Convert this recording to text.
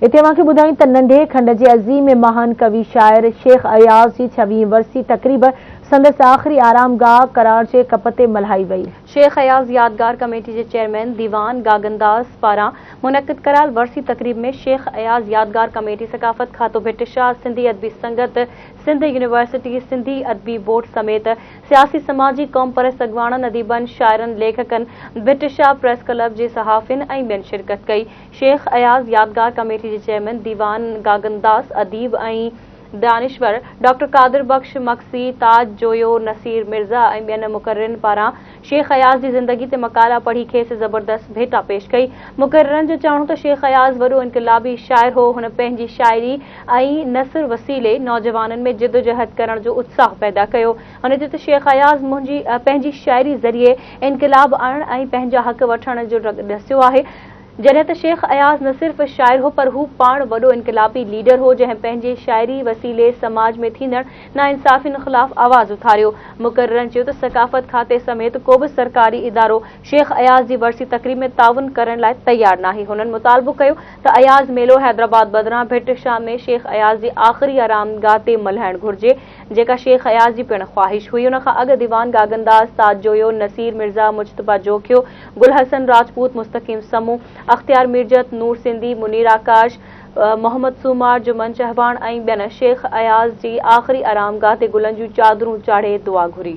اتي اوهان کي ٻڌايون ته ننڍي کنڊ جي عظيم مهان ڪوي شاعر شيخ اياز جي ڇويهين ورسي تقريب سندس آخري آرام گاهه ڪراڙ جي ڪپ تي ملهائي وئي. شيخ اياز يادگار ڪميٽي جي چيئرمين ديوان گاگنداز پاران منعقد ڪرال ورسي تقريب ۾ شيخ اياز يادگار ڪميٽي ثقافت کاتو ڀٽ شاهه سنڌي ادبي سنگت سنڌ يونيورسٽي سنڌي ادبي بورڊ سميت سياسي سماجي قومپرست اڳواڻن اديبن شاعرن ليکڪن ڀٽ شاهه پريس ڪلب جي صحافين ۽ ٻين شرڪت ڪئي. شيخ اياز يادگار ڪميٽي جي چيئرمين ديوان گاگنداس، اديب ۽ دانشور ڊاڪٽر قادر بخش مگسي، تاج جويو، نصير مرزا ۽ ٻين مقررين پاران شيخ اياز جي زندگي تي مقالا پڙهي کيس زبردست ڀيٽا پيش ڪئي. مقررن جو چوڻ هو ته شيخ اياز وڏو انقلابي شاعر هو، هن پنهنجي شاعري ۽ نثر وسيلي نوجوانن ۾ جدوجهد ڪرڻ جو اتساهه پيدا ڪيو. هن چيو ته شيخ اياز منهنجي پنهنجي شاعري ذريعي انقلاب آڻڻ ۽ پنهنجا حق وٺڻ جو ڍنگ ڏسيو آهي. جڏهن ته شيخ اياز نه صرف شاعر هو پر هو پاڻ وڏو انقلابي ليڊر هو جنهن پنهنجي شاعري وسيلي سماج ۾ ٿيندڙ ناانصافين خلاف آواز اٿاريو. مقررن چيو ته ثقافت کاتي سميت ڪو به سرڪاري ادارو شيخ اياز جي ورسي تقريب ۾ تعاون ڪرڻ لاء تيار ناهي. هنن مطالبو ڪيو ته اياز ميلو حيدرآباد بدران ڀٽ شاهه ۾ شيخ اياز جي آخري آرامگاهه تي ملهائڻ گهرجي. جيڪا شيخ اياز جي پڻ خواهش هئي. ان کان اڳ ديوان گاگنداس، سعد جويو، نصير مرزا، مجتبيٰ جوکيو، گل حسن راجپوت، مستقيم سمون، اختيار ميرجت، نور سنڌي، منير آڪاش، محمد سومار، جمن چهواڻ ۽ ٻين شيخ اياز جي آخري آرام گاهه تي گلن جون چادرون چاڙهي دعا گهري.